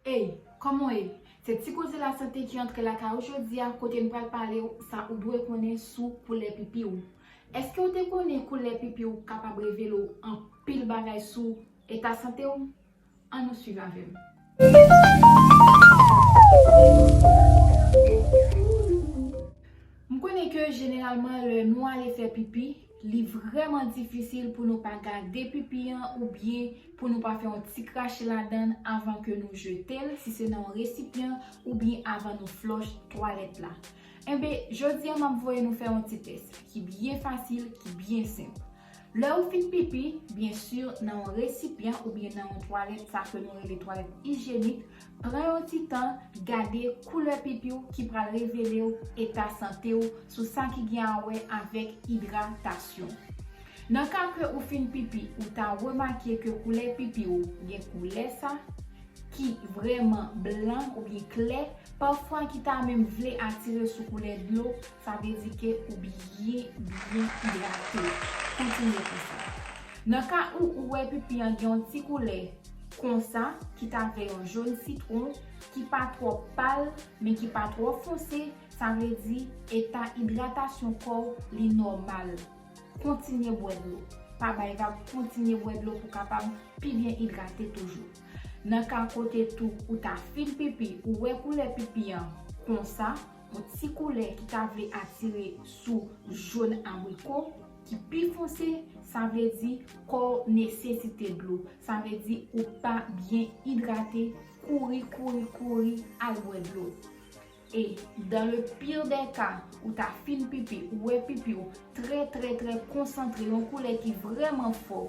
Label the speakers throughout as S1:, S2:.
S1: Ey, kòman w ye? Se Ti Koze Lasante ki antre lakay ou jodi a kote n pral pale w sa ou dwe konnen sou koulè pipi w. Èske w te konnen koulè pipi w kapab revele w anpil bagay sou eta sante w? An nou swiv avè m. M konnen ke jeneralman lè nou ale fè pipi, Li vrèman difisil pou nou pa gade pipi an oubyen pou nou pa fè yon ti krache ladan l avan ke nou jete l si se nan yon resipyan oubyen avan nou flòch twalèt la. Enben, jodi a m ap voye nou fè yon ti tès ki byen fasil, ki byen senp. Lè ou fin pipi, byen sur nan yon resipyan oubyen nan yon twalèt sa ke nou rele twalèt ijyenik, Pran yon ti tan gade koulè pipi w ki pral revele w eta sante w sou sa ki gen a wè avèk idratasyon. Nan ka ke ou fin pipi ou ta remake ke koulè pipi w gen koulè sa ki vrèman blan oubyen klè, pafwa ki ta menm vle atire sou koulè dlo Sa vle di ke ou byen, byen idrate. Kontinye konsa. Nan ka ou ou wè pipi an gen yon ti koulè konsa ki ta vè yon jone sitwon ki pa twò pal men ki pa twò fonse, sa vle di eta idratasyon kò w li nòmal. Kontinye bwè dlo. Pa bay vag kontinye bwè dlo pou kapab pi byen idrate toujou. Nan ka kote tou ou ta fin pipi ou wè koulè pipi an konsa, Yon ti koulè ki ta vle atire sou jón abriko ki pi fonse, sa vle di kò w nesesite dlo, sa vle di ou pa byen idrate, kouri kouri kouri al bwè dlo. E dans le pire des cas, ou ta fin pipi, ou wè pipi w trè trè trè konsantre, yon koulè ki vrèman fò,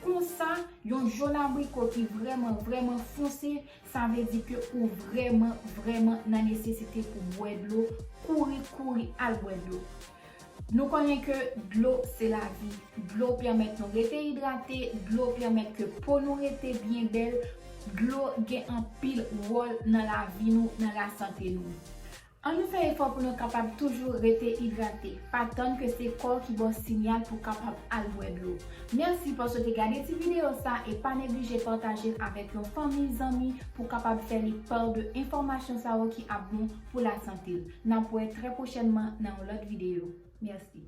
S1: konsa, yon jón abriko ki vrèman vrèman fonse, Sa vle di ke ou vrèman, vrèman nan nesesite pou bwè dlo, kouri, kouri al bwè dlo. Nou konnen ke dlo se lavi. Dlo pèmèt nou rete idrate, dlo pèmèt ke po nou rete byen bèl, dlo gen anpil wòl nan lavi nou, nan lasante nou. An nou fè efò pou nou kapab toujou rete idrate, pa tann ke se kò w ki ba w sinyal pou w kapab al bwè dlo. Mèsi paske w te gade ti videyo sa e pa neglije pataje l avèk yon fanmi, zanmi pou w kapab fè li part de enfòmasyon sa yo ki ap bon pou lasante l. N ap wè trè pwochènman nan yon lòt videyo. Mèsi.